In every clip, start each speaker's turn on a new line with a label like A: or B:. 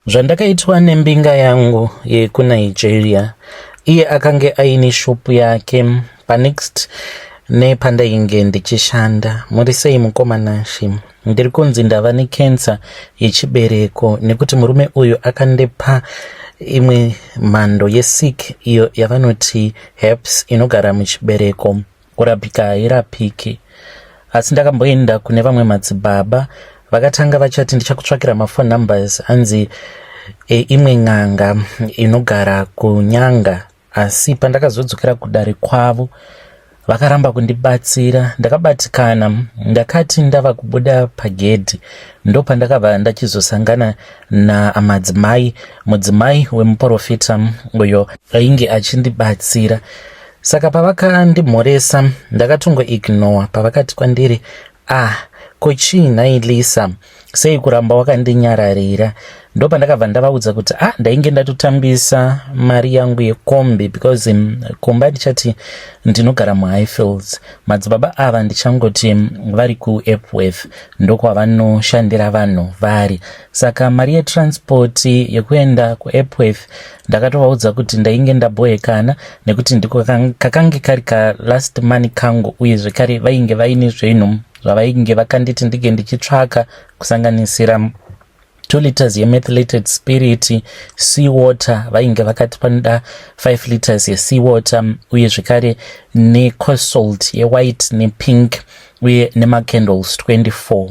A: Zvandakaitwa nembinga yangu yekuNigeria, iye akange aine shopu yake panext nepandainge ndichishanda. Muri sei mukoma Nashe? Ndiri kunzi ndava nekensa yechibereko nekuti murume uyu akandipa imwe mhando yesick iyo yavanoti herpes inogara muchibereko. Kurapika hairapiki. Asi ndakamboenda kune vamwe madzibaba vakatanga vachati ndichakutsvakira mafone numbers hanzi e, imwe n'anga inogara kunyanga asi pandakazodzokera kudare kwavo vakaramba kundibatsira ndakabatikana ndakati ndava kubuda pagedhi ndopandakava ndachizosangana namadzimai mudzimai wemuporofita uyo ainge achindibatsira Saka pavakandimhoresa ndakatongo ignore pavakati kwandiri ah ko chii nhai Lisa sei kuramba wakandinyararira ndopandakabva ndavaudza kuti ah ndainge ndatotambisa mari yangu yekombi because um, kumba ndichati ndinogara muhighfields madzibaba ava ndichangoti um, vari kuepworth ndokwavanoshandira vanhu vari saka mari yetransport yekuenda kuepworth ndakatovaudza kuti ndainge ndaboekana nekuti ndiko kakange kari kalast money kangu uye zvekare vainge vaine zvinhu zvavainge vakanditi ndinge ndichitsvaka kusanganisira two liters yemethlated spirit sea water vainge vakati panoda five liters yesea water uye zvekare necosalt yewhite nepink uye nemacandles 24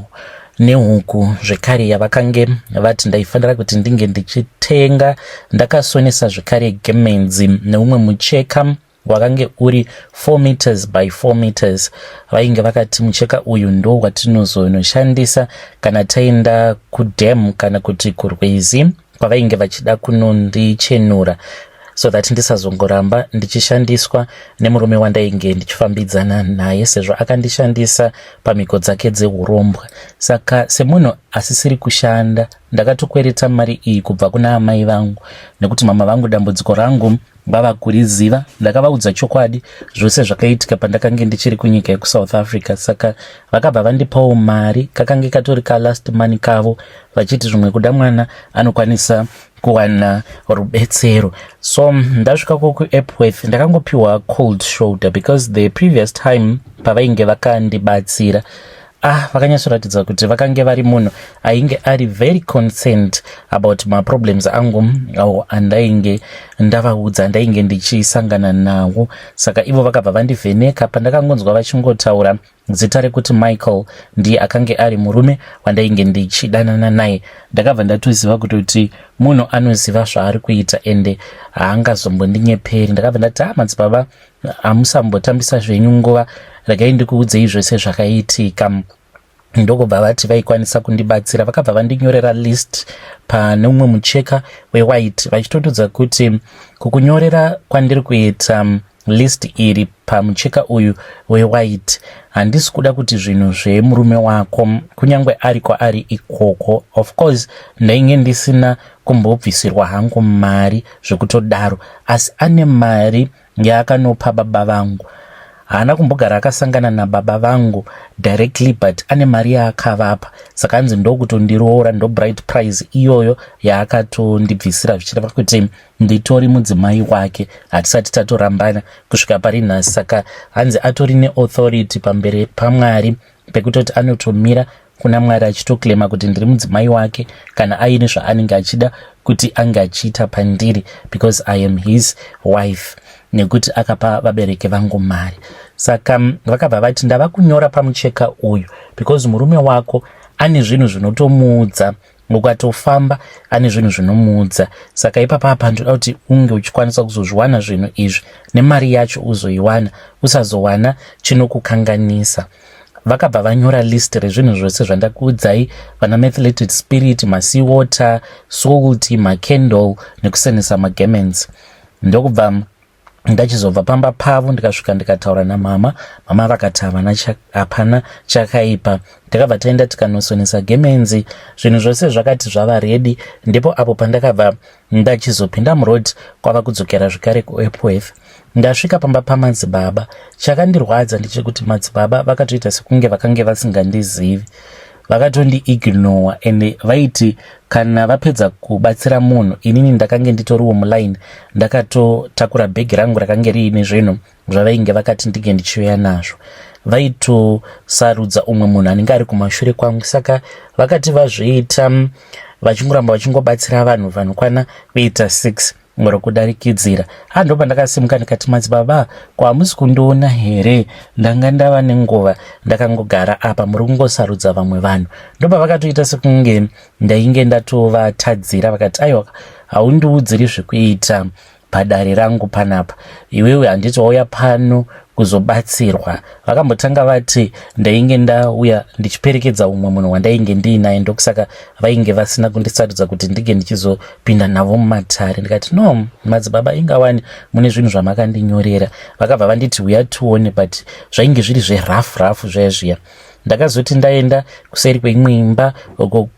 A: nehuku zvekare yavakange vati ndaifanira kuti ndinge ndichitenga ndakasonesa zvekare gemenzi neumwe mucheka wakange uri 4 meters by 4 meters vainge vakati mucheka uyu ndo watinozonoshandisa kana taenda kudam kana kuti kurwizi kwavainge vachida kunondichenura so that ndisazongoramba ndichishandiswa nemurume wandainge ndichifambidzana naye sezvo akandishandisa pamhiko dzake dzehurombwa saka semunhu asisiri kushanda ndakatokwereta mari iyi kubva kuna amai vangu nekuti mama vangu dambudziko rangu Baba kuriziva ndakavaudza chokwadi zvose zvakaitika pandakange ndichiri kunyika yekusouth africa saka vakabva vandipawo mari kakange katori kalast money kavo vachiti zvimwe kuda mwana anokwanisa kuwana rubetsero so ndasvika ko kuepworth ndakangopiwa cold shoulder because the previous time pavainge vakandibatsira ah vakanyatsoratidza kuti vakange vari munhu ainge ari very concerned about maproblems angu awo andainge ndavaudza ndainge ndichisangana nawo saka ivo vakabva vandivheneka pandakangonzwa vachingotaura zita rekuti michael ndiye akange ari murume wandainge ndichidanana naye ndakabva ndatoziva kutoti munhu anoziva zvaari kuita ende haangazombondinyeperi ndakabva ndati ha ah, madzibaba hamusambotambisa zvenyu nguva regai ndikuudzei zvese zvakaitika ndokubva vati vaikwanisa kundibatsira vakabva vandinyorera list pane umwe mucheka wewhite vachitotudza kuti kukunyorera kwandiri kuita um, list iri pamucheka uyu wewhite handisi kuda kuti zvinhu zvemurume wako kunyange ari kwaari ikoko of course ndainge ndisina kumbobvisirwa hangu mari zvekutodaro asi ane mari yaakanopa baba vangu haana kumbogara akasangana nababa vangu directly but ane mari yaakavapa saka anzi ndokutondiroora ndobright prize iyoyo yaakatondibvisira zvichireva kuti nditori mudzimai wake hatisati tatorambana kusvika pari nhasi saka hanzi atori neauthority pamberi pamwari pekutoti anotomira kuna mwari achitoclaima kuti ndiri mudzimai wake kana aine zvaanenge achida kuti ange achiita pandiri because i am his wife nekuti akapa vabereki vangu mari saka mm, vakabva vati ndava kunyora pamucheka uyu because murume wako ane zvinhu zvinotomuudza mukatofamba ane zvinhu zvinomuudza saka ipapa hapa ndoda kuti unge uchikwanisa kuzozviwana zvinhu izvi nemari yacho uzoiwana usazowana chinokukanganisa vakabva vanyora list rezvinhu zvose zvandakuudzai vana mathleted spirit masea water salt macandle nekusenesa magaments ndokubva ndachizobva pamba pavo ndikasvika ndikataura namama mama vakati havana hapana chakaipa takabva taenda tikanosonesa gemenzi zvinhu zvose zvakati zvava redi ndipo apo pandakabva ndachizopinda muroad kwava kudzokera zvekare kuepworth ndasvika pamba pamadzibaba chakandirwadza ndechekuti madzibaba vakatoita sekunge vakange vasingandizivi vakatondi ignowa ende vaiti kana vapedza kubatsira munhu inini ndakange nditoriwo muline ndakatotakura bhegi rangu rakange riine zvinhu zvavainge vakati ndinge ndichiuya nazvo vaitosarudza umwe munhu anenge ari kumashure kwangu saka vakati vazviita vachingoramba vachingobatsira vanhu vanokwana kuita six muri kudarikidzira ha ndo pandakasimuka ndikati madzibaba ko hamusi kundiona here ndanga ndava nenguva ndakangogara apa muri kungosarudza vamwe vanhu ndopa vakatoita sekunge ndainge ndatovatadzira vakati aiwa haundiudziri zvekuita padare rangu panapa iwewe handiti wauya pano kuzobatsirwa vakambotanga vati ndainge ndauya ndichiperekedza umwe munhu wandainge ndiinaye ndokusaka vainge vasina kundisarudza kuti ndinge ndichizo kupinda navo mumatare ndikati no madzibaba ingawani mune zvinhu zvamakandinyorera vakabva vanditi huya tione but zvainge zviri zverough rough zviya zviya ndakazoti ndaenda kuseri kweimwe imba uko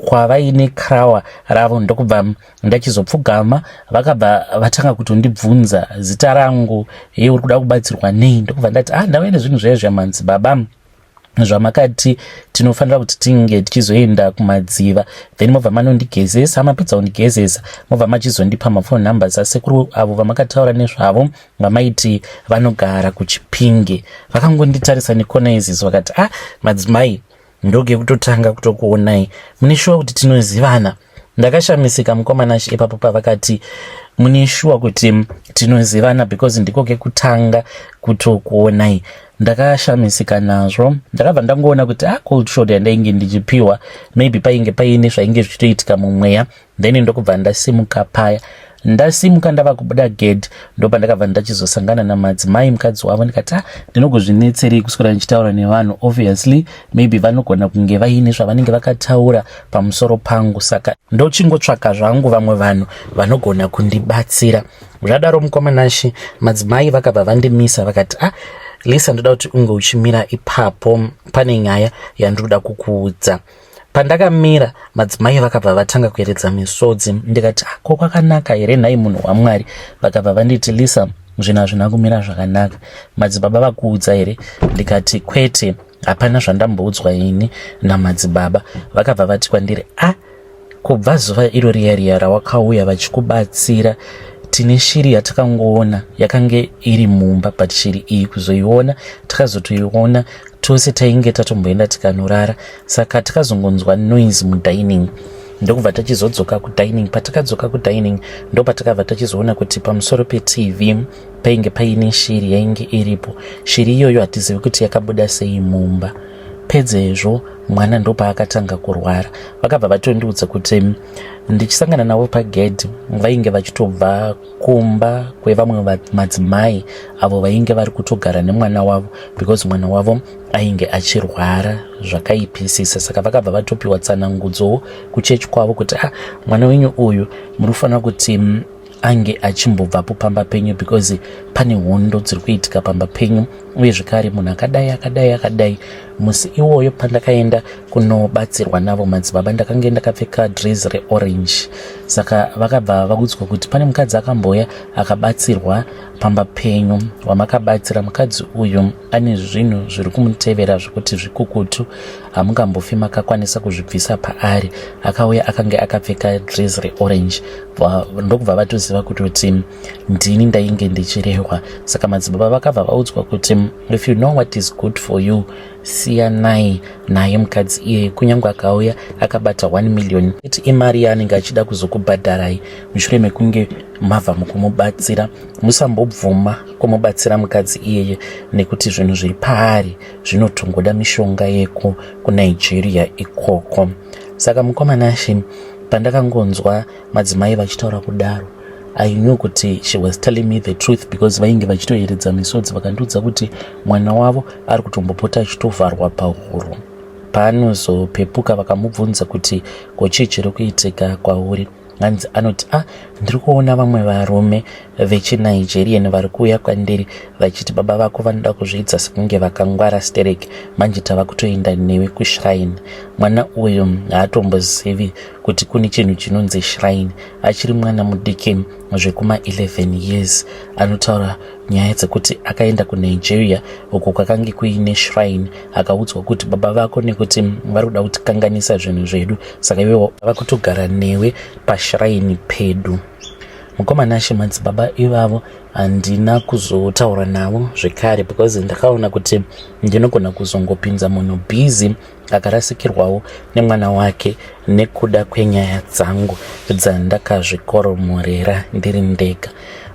A: kwavaine krawa ravo ndokubva ndachizopfugama vakabva vatanga kutondibvunza zita rangu hei uri kuda kubatsirwa nei ndokubva ndati ah ndavaine zvinhu zvaye zviyamanzi baba zvamakati tinofanira kuti tinge tichizoenda kumadziva then mobva manondigezesa mapedza kundigezesa mobva machizondipa mafone numbers asekuru avo vamakataura nezvavo vamaiti vanogara kuchipinge vakangonditarisa nekona izizi vakati ah madzimai ndoge kutotanga kutokuonai mune shuwa kuti tinozivana so ndakashamisika mukoma nashe ipapo pavakati mune shuwa kuti tinozivana because ndiko kekutanga kutokuonai ndakashamisika nazvo ndakabva ndangoona kuti a ah, cold shot yandainge ndichipiwa maybe painge paine zvainge zvichitoitika mumweya then ndokubva ndasimuka paya Ndasimuka ndava kubuda gedhi ndopandakabva ndachizosangana namadzimai mukadzi wavo ndikati ah, ndinogozvinetserei kuswera ndichitaura nevanhu obviously maybe vanogona kunge vaine zvavanenge vakataura pamusoro pangu saka ndochingotsvaka zvangu vamwe vanhu vanogona kundibatsira zvadaro mukomanashi madzimai vakabva vandimisa vakati ah, lisa ndoda kuti unge uchimira ipapo pane nyaya yandiri kuda kukuudza Pandakamira madzimai vakabva vatanga kueredza misodzi ndikati ah, ko kwakanaka here nhai munhu waMwari vakabva vanditi Lisa zvinhu hazvina kumira zvakanaka madzibaba vakuudza here ndikati kwete hapana zvandamboudzwa ini namadzibaba vakabva vati kwandiri a ah, kubva zuva iro riya riya rawakauya vachikubatsira tine shiri yatakangoona yakange iri mumba but shiri iyi kuzoiona takazotoiona tose tainge tatomboenda tikanorara saka tikazongonzwa noise mudining ndokubva tachizodzoka kudining patakadzoka kudining ndopatakabva tachizoona kuti pamusoro petv painge paine shiri yainge iripo shiri iyoyo hatizivi kuti yakabuda sei mumba pedzezvo mwana ndopaakatanga kurwara vakabva vatondiudza kuti ndichisangana navo pagedhi vainge vachitobva kumba kwevamwe madzimai avo vainge vari kutogara nemwana wavo because mwana wavo ainge achirwara zvakaipisisa saka vakabva vatopiwa tsanangudzowo kuchechi kwavo kuti ah mwana wenyu uyu muri kufanira kuti mm, ange achimbobvapo pamba penyu because pane hondo dziri kuitika pamba penyu uye zvekare munhu akadai akadai akadai musi iwoyo pandakaenda kunobatsirwa navo madzibaba ndakange ndakapfeka dress reorange saka vakabva vakudzwa kuti pane mukadzi akamboya akabatsirwa pamba penyu wamakabatsira mukadzi uyu ane zvinhu zviri kumutevera zvekuti zvikukutu hamungambofi makakwanisa kuzvibvisa paari akauya akange akapfeka dress reorange ndokubva vatoziva kuti kuti ndini ndainge ndichirehwa saka madzibaba vakabva vaudzwa kuti if you know what is good for you siyanai naye mukadzi iyeye kunyange akauya akabata 1 million iti imari yaanenge achida kuzokubhadharai mushure mekunge mava mukumubatsira musambobvuma kumubatsira mukadzi iyeye nekuti zvinhu zviri paari zvinotongoda mishonga yeko kunigeria ikoko saka mukomana shi pandakangonzwa madzimai vachitaura kudaro i knew kuti she was telling me the truth because vainge vachitoyeredza misodzi vakandiudza kuti mwana wavo ari kutombopota achitovharwa pahuro paanozopepuka vakamubvunza kuti ko chii chiri kuitika kwauri hanzi anoti a ah, ndiri kuona vamwe varume vechinigerian vari kuuya kwandiri vachiti baba vako vanoda kuzviitsa sekunge vakangwara sterek manje tava kutoenda newe kushrine mwana uyu haatombozivi kuti kune chinhu chinonzi shrine achiri mwana mudiki zvekuma 11 years anotaura nyaya dzekuti akaenda kunigeria uko kwakange kuine shrine akaudzwa kuti baba vako nekuti vari kuda kutikanganisa zvinhu zvedu saka ive vava kutogara newe pashrine pedu mukomana ashe madzibaba ivavo handina kuzotaura navo zvekare because ndakaona kuti ndinogona kuzongopinza munhu busy akarasikirwawo nemwana wake nekuda kwenyaya dzangu dzandakazvikoromorera ndiri ndega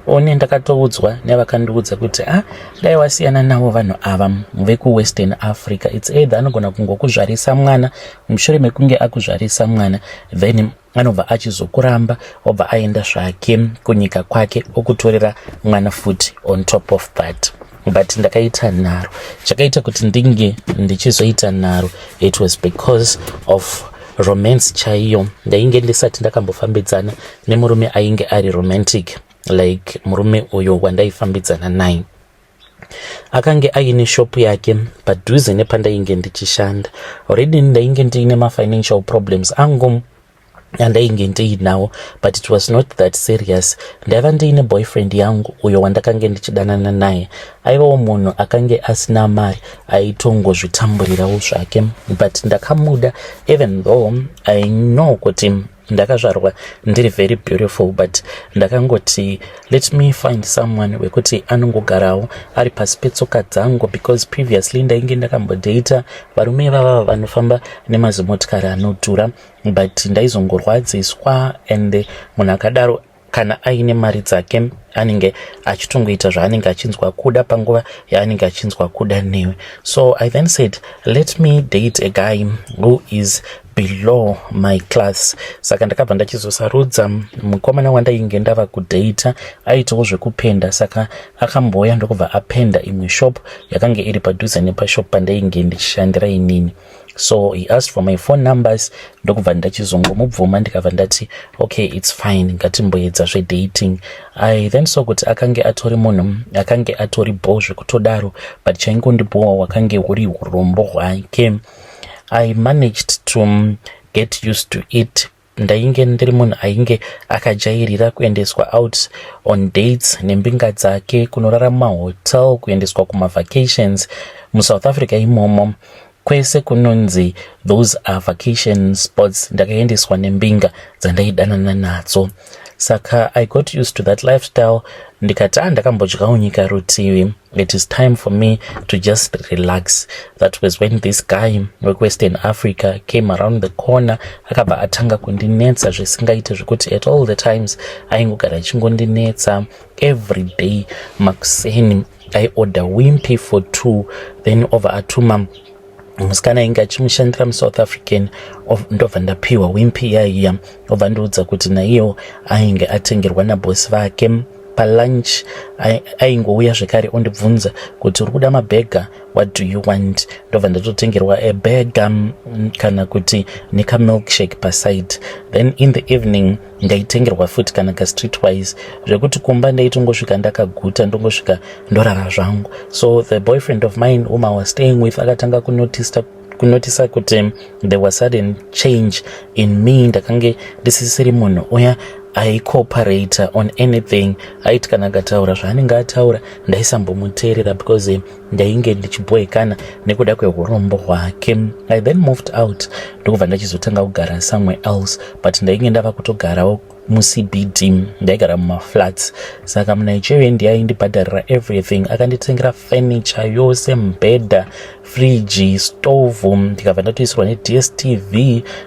A: one ndakatoudzwa nevakandiudza kuti a ah, dai wasiyana navo vanhu ava vekuwestern africa its either anogona kungokuzvarisa mwana mushure mekunge akuzvarisa mwana then anobva achizokuramba obva aenda zvake kunyika kwake okutorera mwana futi on top of that but ndakaita nharo chakaita kuti ndinge ndichizoita nharo it was because of romance chaiyo ndainge ndisati ndakambofambidzana nemurume ainge ari romantic like murume uyo wandaifambidzana naye akange aine shop yake padhuze nepandainge ndichishanda already ndainge ndiine mafinancial problems angu andainge ndiinawo but it was not that serious ndaiva ndiine boyfriend yangu uyo wandakange ndichidanana naye aivawo munhu akange asina mari aitongozvitamburirawo zvake but ndakamuda even though i know kuti ndakazvarwa ndiri very beautiful but ndakangoti let me find someone wekuti anongogarawo ari pasi petsoka dzangu because previously ndainge ndakambodata varume ivava vanofamba nemazimotikari anodhura but ndaizongorwadziswa and munhu akadaro kana aine mari dzake anenge achitongoita zvaanenge achinzwa kuda panguva yaanenge achinzwa kuda newe so i then said let me date a guy who is below my class saka ndakabva ndachizosarudza mukomana wandainge ndava kudata aitawo zvekupenda saka akambouya ndokubva apenda imwe shop yakange iri padhuze nepashop pandainge ndichishandira inini so he asked for my phone numbers ndokubva ndachizongomubvuma ndikabva ndati okay its fine ngatimboedza zvedating i then so kuti akange atori munhu akange atori bho zvekutodaro but chaingondibhowa wakange huri urombo hwake i managed to get used to it Ndainge ndiri munhu ainge akajairira kuendeswa out on dates nembinga dzake kunorara mumahotel kuendeswa kumavacations musouth africa imomo kwese kunonzi those are vacation spots ndakaendeswa nembinga dzandaidanana nadzo saka i got used to that lifestyle ndikati a ah, ndakambodyawo nyika rutivi It is time for me to just relax. That was when this guy wekuWestern Africa came around the corner akabva atanga kundinetsa zvisingaite zvekuti at all the times aingogara achingondinetsa every day makuseni aiorder wimpy for two then over atuma musikana ainge achimushandira musouth african ndobva ndapiwa wimpi iyaiya obva ndiudza kuti naiyewo ainge atengerwa nabosi vake palunch aingouya zvekare ondibvunza kuti uri kuda mabhega what do you want ndobva ndatotengerwa ebhega kana kuti nekamilkshake paside then in the evening ndaitengerwa futi kana kastreet wise zvekuti kumba ndaitongosvika ndakaguta ndongosvika ndorara zvangu so the boyfriend of mine whom i was staying with akatanga kunotista kunotisa kuti there was sudden change in me ndakange ndisisiri munhu uya aicooperata on anything aiti kana akataura zvaanenge ataura ndaisambomuteerera because ndainge ndichibhoikana nekuda kwehurombo hwake i then moved out ndokubva ndachizotanga kugara somewhere else but ndainge ndava kutogarawo mucbd ndaigara mumaflats saka munigeria ndiye aindibhadharira everything akanditengera furniture yose mbhedha friji stove ndikabva ndatoisirwa nedstv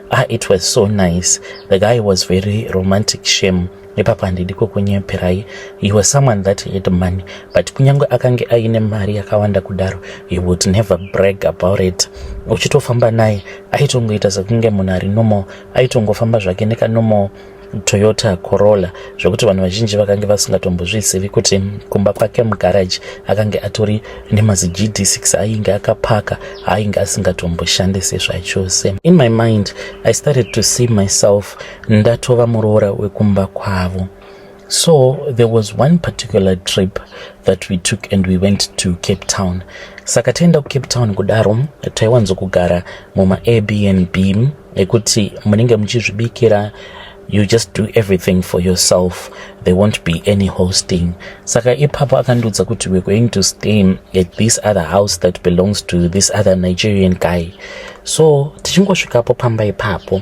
A: ah it was so nice the guy was very romantic shame ipapo handidi kukunyeperai you were someone that had money but kunyange akange aine mari yakawanda kudaro he would never brag about it uchitofamba naye aitongoita sekunge munhu ari normal aitongofamba zvake nekanormal toyota corolla zvekuti vanhu vazhinji vakange vasingatombozvizivi kuti kumba kwake mugaraji akange atori nemazigd6 ainge akapaka aainge asingatomboshandise zvachose in my mind i started to see myself ndatova muroora wekumba kwavo so there was one particular trip that we took and we went to cape town saka taenda kucape town kudaro taiwanzokugara mumaairbnb ekuti munenge muchizvibikira you just do everything for yourself there won't be any hosting saka ipapo akandiudza kuti we're going to stay at this other house that belongs to this other nigerian guy so tichingosvikapo pamba ipapo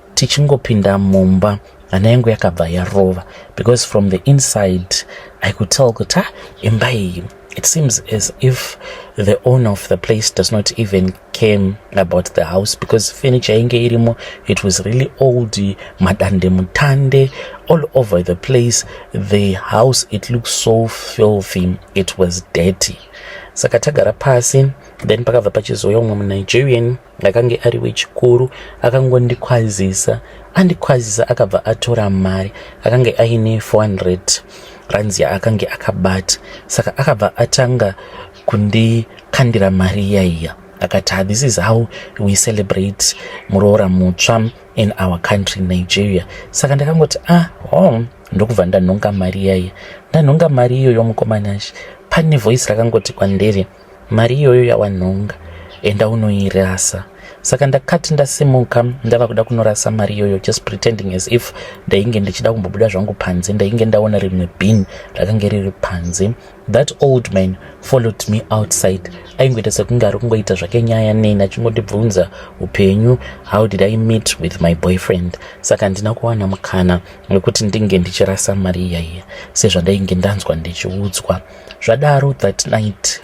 A: tichingopinda mumba hana yangu yakabva yarova because from the inside i could tell kuti ah, imba iyi it seems as if the owner of the place does not even came about the house because furniture inge irimo it was really old madande mutande all over the place the house it looked so filthy it was dirty saka tagara pasi then pakabva pachizouya umwe munigerian ndakange ari wechikuru akangondikwazisa andikwazisa akabva atora mari akange aine 400 rands yaakange akabata saka akabva atanga kundikandira mari yaiya akati ah, this is how we celebrate muroora mutsva in our country nigeria saka ndakangoti ah hom oh, ndokubva ndanhonga mari yaiya ndanhonga mari iyoyo mukomanashi pane voice rakangoti kwandiri Mari iyoyo yawanhonga enda unoirasa. Saka ndakati ndasimuka ndava kuda kunorasa mari iyoyo just pretending as if ndainge ndichida kumbobuda zvangu panze ndainge ndaona rimwe bin rakange riri panze. That old man followed me outside aingoita sekunge ari kungoita zvake nyaya neni achingondibvunza upenyu how did I meet with my boyfriend. Saka handina kuwana mukana wekuti ndinge ndichirasa mari iyaiya sezvandainge ndanzwa ndichiudzwa. zvadaro that night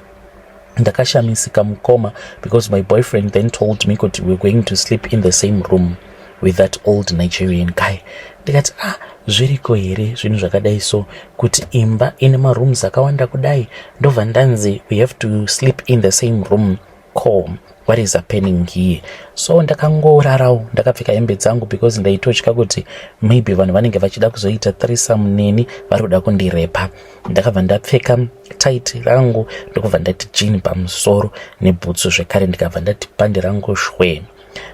A: ndakashamisika mukoma because my boyfriend then told me kuti we're going to sleep in the same room with that old nigerian guy ndikati ah zviriko here zvinhu zvakadai so kuti imba ine marooms akawanda kudai ndobva ndanzi we have to sleep in the same room ko what is happening here so ndakangorarawo ndakapfeka hembe dzangu because ndaitotya kuti maybe vanhu vanenge vachida kuzoita thrisam neni vari kuda kundirepa ndakabva ndapfeka tight rangu ndokubva ndati jini pamusoro nebhutsu zvekare ndikabva ndati pandi rangu shwee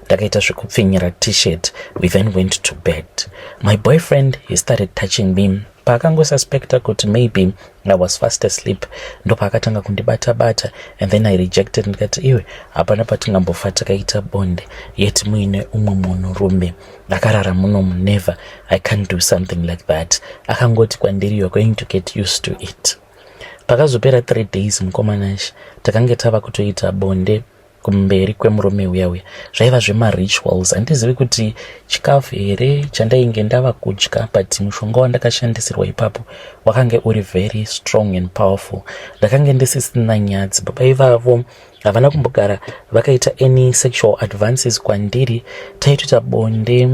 A: ndakaita zvekupfinyira t-shirt we then went to bed my boyfriend he started touching me paakangosuspecta kuti maybe i was fast asleep ndopaakatanga kundibata bata and then i rejected ndikati iwe hapana patingambofa takaita bonde yet muine umwe munhu rume ndakarara munomu never i can't do something like that akangoti kwandiri you're going to get used to it pakazopera three days mukomanash takange tava kutoita bonde kumberi kwemurume uya uya zvaiva zvemarituals handizivi kuti chikafu here chandainge ndava kudya but mushonga wandakashandisirwa ipapo wakange uri very strong and powerful ndakange ndisisina nyadzi baba ivavo havana kumbogara vakaita any sexual advances kwandiri taitoita bonde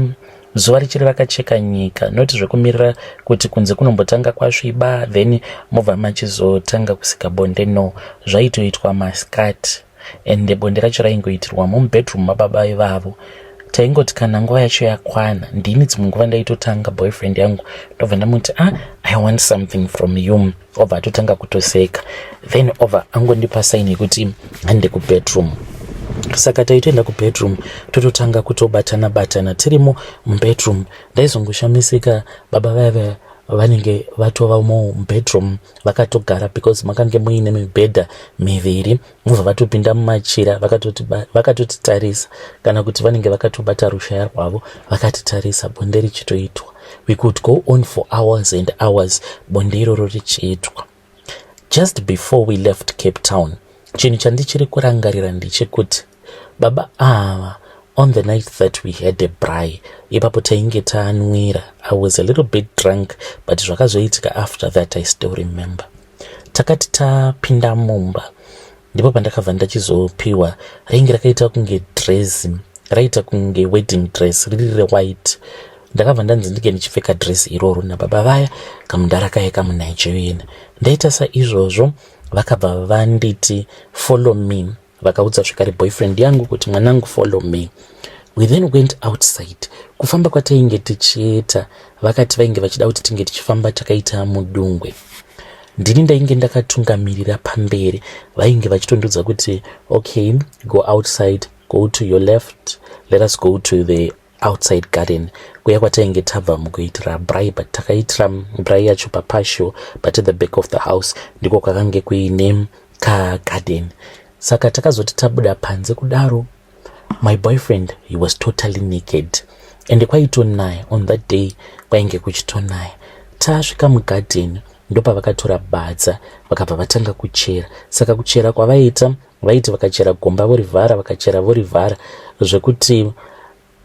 A: zuva richiri rakacheka nyika not zvekumirira kuti kunze kunombotanga kwasviba then mobva machizotanga kusika bonde no zvaitoitwa maskati and bonde racho raingoitirwa mumubedroom mababa ivavo taingoti kana nguva yacho yakwana ndini dzimwe nguva ndaitotanga boyfriend yangu ndobva ndamuti ah i want something from you obva atotanga kutoseka then obva angondipa saini yekuti hande kubedroom saka taitoenda kubedroom tototanga kutobatana batana tirimo mubedroom ndaizongoshamisika baba vaive vanenge vatova mo mubedroom vakatogara because makange muine mibhedha miviri mobva vatopinda mumachira vakatotitarisa kana kuti vanenge vakatobata rushaya rwavo vakatitarisa bonde richitoitwa we could go on for hours and hours bonde iroro richiitwa just before we left cape town chinhu chandichiri kurangarira ndechekuti baba ava on the night that we had a bry ipapo tainge taanwira i was a little bit drunk but zvakazoitika after that i still remember Takati tapinda mumba ndipo pandakabva ndachizopiwa ringi rakaita kunge dress raita kunge wedding dress riri rewhite ndakabva ndanzi ndinge ndichipfeka dress iroro nababa vaya kamudhara kaye kamunigerian ndaita saizvozvo vakabva vanditi follow me vakaudza zvekare boyfriend yangu kuti mwanangu follow me we then went outside kufamba kwatainge tichiita vakati vainge vachida kuti tinge tichifamba takaita mudungwe ndini ndainge ndakatungamirira pamberi vainge vachitondudza kuti okay go outside go to your left let us go to the outside garden kuya kwatainge tabva mukuitira bry but takaitira bry yacho papasho but the back of the house ndiko kwakange kuine kagarden saka takazoti tabuda panze kudaro my boyfriend he was totally naked ende kwaitonaya on that day kwainge kuchitonaya tasvika mugadheni ndopavakatora badza vakabva vatanga kuchera saka kuchera kwavaita vaiti vakachera gomba vorivhara vakachera vorivhara zvekuti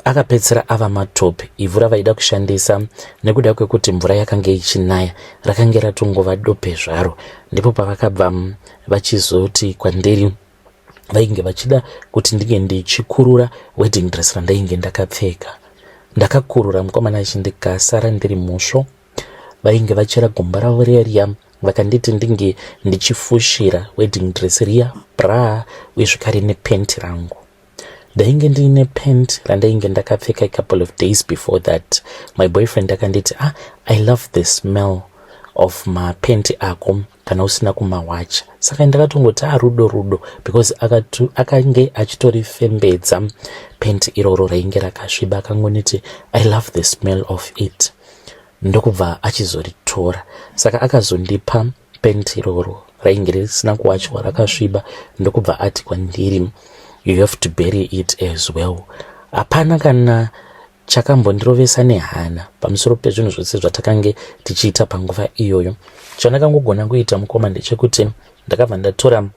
A: akapedzisira ava matope ivhu ravaida kushandisa nekuda kwekuti mvura yakange ichinaya rakange ratongova dope zvaro ndipo pavakabva vachizoti kwandiri vainge vachida kuti ndinge ndichikurura wedding dress randainge ndakapfeka ndakakurura mukomana achindikasara ndiri musvo vainge vachera gumbo ravo riya riya vakanditi ndinge ndichifushira wedding dress riya bra uye zvekare nepent rangu ndainge ndiine pent randainge ndakapfeka a couple of days before that my boyfriend akanditi ah i love the smell of mapenti ako kana usina kumawacha saka ndakatongoti arudo ah, rudo because akange achitorifembedza penti iroro rainge rakasviba akangoniti i love the smell of it ndokubva achizoritora saka akazondipa penti iroro rainge risina kuwachwa rakasviba ndokubva ati kwandiri you have to bury it as well hapana kana Chakambondirovesa nehana pamusoro pezvinhu zvose zvatakange tichiita panguva iyoyo. Chandakangogona kuita mukoma ndechekuti ndakabva ndatora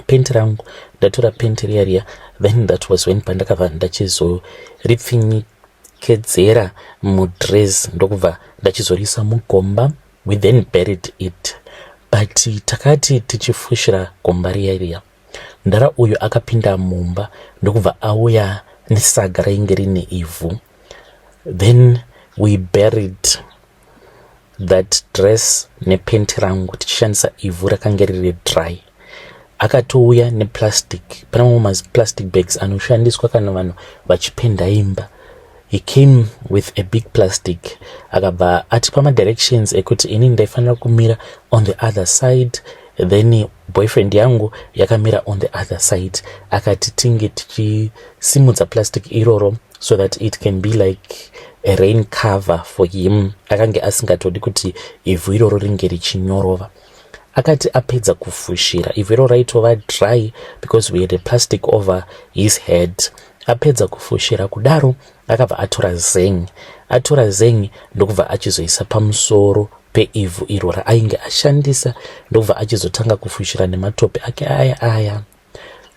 A: penti rangu ndatora penti riya riya then that was when pandakabva ndachizoripfinyikedzera mudress ndokubva ndachizorisa mugomba we then buried it but takati tichifushira gomba riya riya Mdhara uyu akapinda mumba ndokubva auya nesaga rainge rine ivhu then we buried that dress nepenti rangu tichishandisa ivhu rakange riri dry akatouya neplastic pane mamwe maplastic bags anoshandiswa kana vanhu vachipenda imba He came with a big plastic akabva atipa madirections ekuti ini ndaifanira kumira on the other side then boyfriend yangu yakamira on the other side akati tinge tichisimudza plastic iroro so that it can be like a rain cover for him akange asingatodi kuti ivhu iroro ringe richinyorova akati apedza kufushira ivhu ro raitova dry because we had a plastic over his head apedza kufushira kudaro akabva atora zeng atora zeng ndokubva achizoisa pamusoro peivhu iro raainge ashandisa ndokubva achizotanga kufushira nematope ake aya aya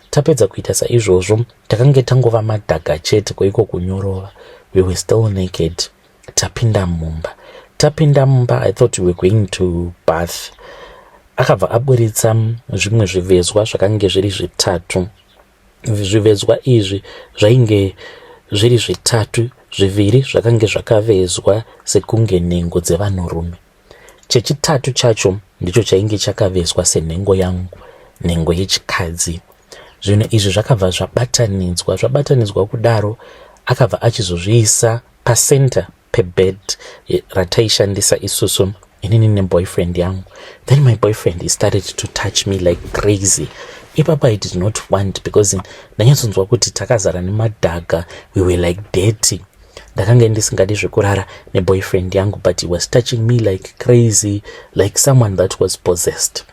A: Tapedza kuita saizvozvo, takange tangova madhaga chete kweiko kunyorova. We were still naked. Tapinda mumba. Tapinda mumba, I thought we were going to bath. Akabva aburitsa zvimwe zvivezwa zvakange zviri zvitatu. Zvivezwa izvi zvainge zviri zvitatu, zviviri zvakange zvakavezwa sekunge nhengo dzevanhurume. Chechitatu chacho ndicho chainge chakaveswa senhengo yangu, nhengo yechikadzi. Zvinhu izvi zvakabva zvabatanidzwa zvabatanidzwa kudaro akabva achizozviisa pacenter pebed rataishandisa isusu inini neboyfriend yangu then my boyfriend he started to touch me like crazy ipapa i did not want because ndanyatsonzwa kuti takazara nemadhaga we were like dirty ndakange ndisingadi zvekurara neboyfriend yangu but he was touching me like crazy like someone that was possessed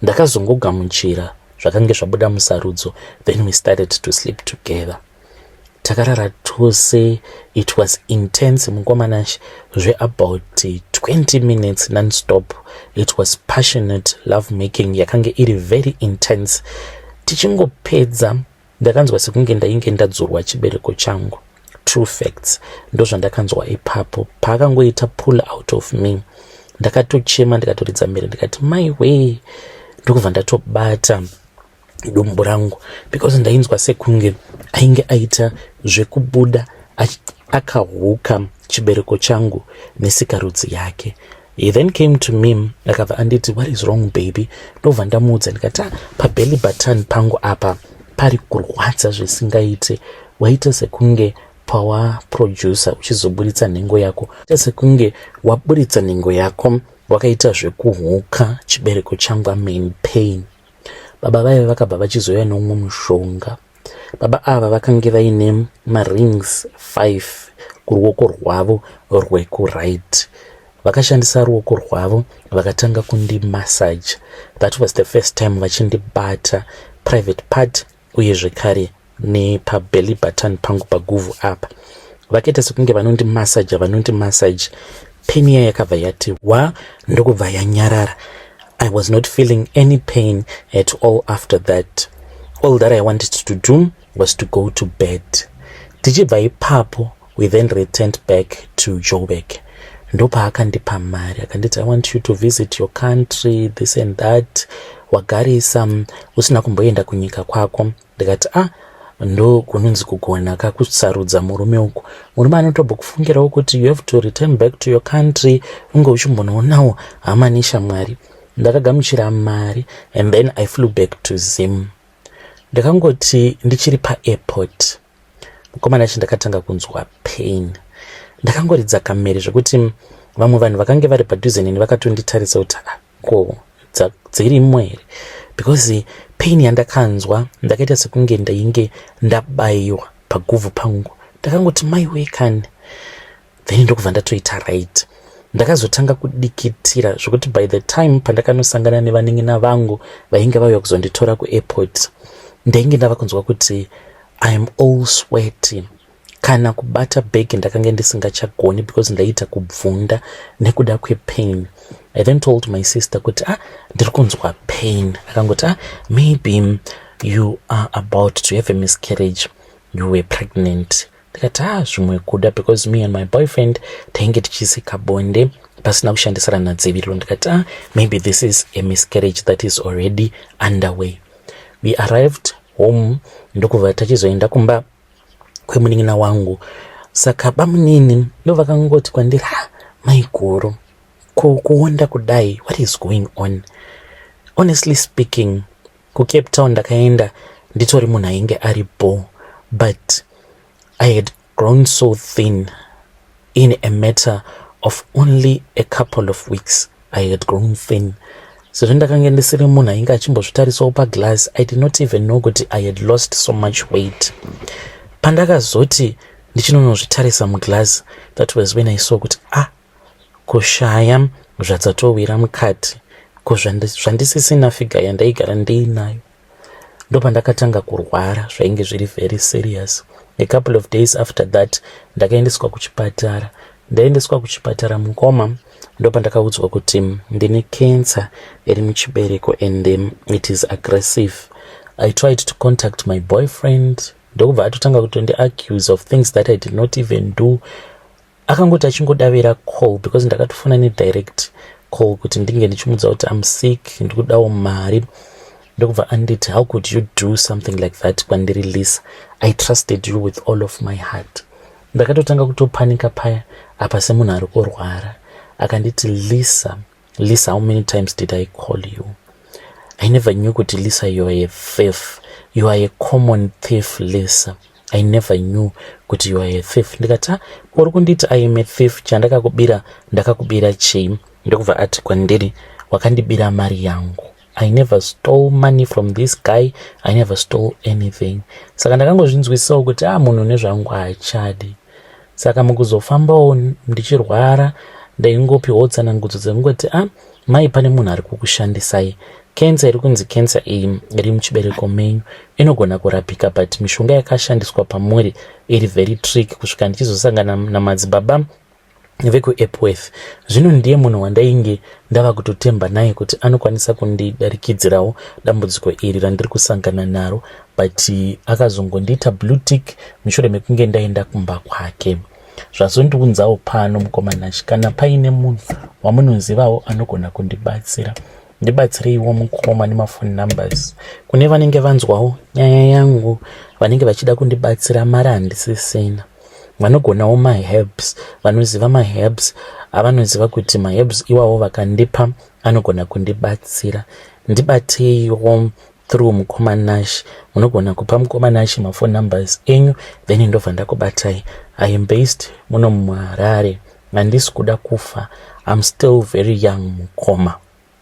A: ndakazongogamuchira zvakange zvabuda musarudzo then we started to sleep together takarara tose it was intense mukomanash zveabout 20 minutes nonstop it was passionate love making yakange iri very intense tichingopedza Ndakanzwa sekunge ndainge ndadzurwa chibereko changu. True facts ndozvandakanzwa ipapo paakangoita pull out of me. Ndakatochema ndikatoridza mhere ndikati mai wee ndokubva ndatobata dumbu rangu because ndainzwa sekunge ainge aita zvekubuda akahuka chibereko changu nesikarudzi yake He then came to me akabva anditi what is wrong baby ndobva ndamuudza ndikati ah, pabelly button pangu apa pari kurwadza zvisingaite waita sekunge pawaproducer uchizoburitsa nhengo yako ita sekunge waburitsa nhengo yako wakaita zvekuhuka chibereko changu amen pain baba vaive vakabva vachizouya neumwe mushonga Baba ava vakange vaine marings 5 kuruoko rwavo rwekuright. Vakashandisa ruoko rwavo vakatanga kundi massage. That was the first time vachindibata private part uye zvekare nepabelly button pangu paguvhu apa. Vakaita sekunge vanondi massage vanondi massage. Peniya yakabva yati wa ndokubva yanyarara. I was not feeling any pain at all after that. All that I wanted to do was to go to bed. Tichibva ipapo, we then returned back to Joburg. ndopaakandipa mari akanditi i want you to visit your country this and that wagarisa usina kumboenda kunyika kwako ndikati ah ndokunonzi kugona ka kusarudza murume uku murume anotobokufungirawo kuti you have to return back to your country unge uchimbonoonawo hama neshamwari ndakagamuchira mari and then i flew back to zim ndakangoti ndichiri paairport mukomana chi ndakatanga kunzwa pain ndakangoridza kamere zvekuti vamwe vanhu vakange vari padhuze neni vakatonditarisa kuti ah, ko dzirimwo here because pain yandakanzwa ndakaita sekunge ndainge ndabaiwa paguvhu pangu ndakangoti mai wee kani then ndokubva ndatoita right ndakazotanga kudikitira zvekuti by the time pandakanosangana nevanin'ina vangu vainge vauya kuzonditora kuairport ndainge ndava kunzwa kuti iam all sweaty Kana kubata bag ndakange ndisingachagoni because ndaiita kubvunda nekuda kwepain. I then told my sister kuti ah ndiri kunzwa pain. Akangoti ah maybe you are about to have a miscarriage you were pregnant. Ndikati ah zvimwe kuda because me and my boyfriend tainge tichisika bonde pasina kushandisirana dziviriro. Ndikati ah maybe this is a miscarriage that is already underway. We arrived home ndokubva tachizoenda kumba kwemunin'ina wangu saka bamunini ndovakangoti kwandiri ha maiguru ko kuonda kudai what is going on honestly speaking kucape town ndakaenda nditori munhu ainge ari bo but i had grown so thin In a matter of only a couple of weeks I had grown thin sezvo ndakange ndisiri munhu ainge achimbozvitarisawo paglass i did not even know kuti i had lost so much weight pandakazoti ndichinonozvitarisa muglass that was when i saw kuti ah kushaya zvadzatowira mukati ko zvandisisina figa yandaigara ndiinayo ndopandakatanga kurwara zvainge zviri very serious a couple of days after that ndakaendeswa kuchipatara ndaendeswa kuchipatara mukoma ndopandakaudzwa kuti ndine cancer iri muchibereko and um, it is aggressive i tried to contact my boyfriend ndokubva atotanga kutondi accuse of things that i did not even do akangoti achingodavira call because ndakatofona nedirect call kuti ndinge ndichimudza kuti am sick ndikudawo mari ndokubva anditi how could you do something like that kwandiri lisa i trusted you with all of my heart ndakatotanga kutopanika paya apa semunhu ari kurwara akanditi lisa Lisa, how many times did I call you? I never knew kuti Lisa you are a thief. You are a common thief Lisa. I never knew kuti you are a thief. Ndikati ah, uri kunditi I am a thief chandakakubira ndakakubira chii? Ndokubva ati kwandiri wakandibira mari yangu. I never stole money from this guy, I never stole anything. Saka ndakangozvinzwisisawo kuti ah munhu nezvangu haachadi. Saka mukuzofambawo ndichirwara ndaingopiwo tsanangudzo dzekungoti ah mai pane munhu ari kukushandisai. Cancer iri kunzi cancer iyi iri muchibereko menyu inogona kurapika but mishonga yakashandiswa pamuri iri very trick kusvika ndichizosangana namadzibaba vekuEpworth. Zvino ndiye munhu wandainge ndava kutotemba naye kuti anokwanisa kundidarikidzirawo dambudziko iri randiri kusangana naro, but akazongondiita blue tick mushure mekunge ndaenda kumba kwake. Zvazondiunzawo pano mukomana Nash, kana paine munhu wamunozivawo anogona kundibatsira ndibatsireiwo mukoma nemafoni numbers kune vanenge vanzwawo nyaya yangu vanenge vachida kundibatsira mari handisisina vanogonawo maherbs vanoziva maherbs avanoziva kuti maherbs iwawo vakandipa anogona kundibatsira ndibateiwo through mukoma nash munogona kupa mukoma nash maphone numbers enyu then ndobva ndakubatai i am based muno muharare handisi kuda kufa im still very young mukoma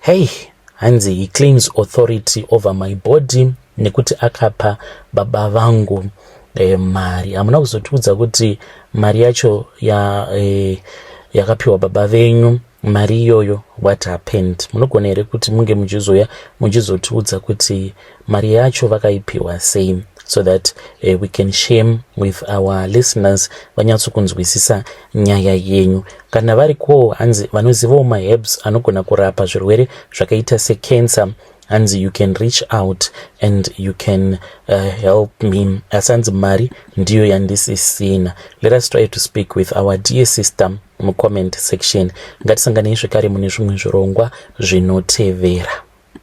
A: Hey, hanzi he claims authority over my body nekuti akapa baba vangu e, mari. Hamuna kuzotiudza kuti mari yacho ya, e, yakapiwa baba venyu mari iyoyo what happened. Munogona here kuti munge muchizouya muchizotiudza kuti mari yacho vakaipiwa sei so that uh, we can shame with our listeners vanyatsokunzwisisa nyaya yenyu kana vari koo hanzi vanozivawo maherbs anogona kurapa zvirwere zvakaita secancer hanzi you can reach out and you can uh, help me asi hanzi mari ndiyo yandisisina let us try to speak with our dear sister mucomment section ngatisanganei zvekare mune zvimwe zvirongwa zvinotevera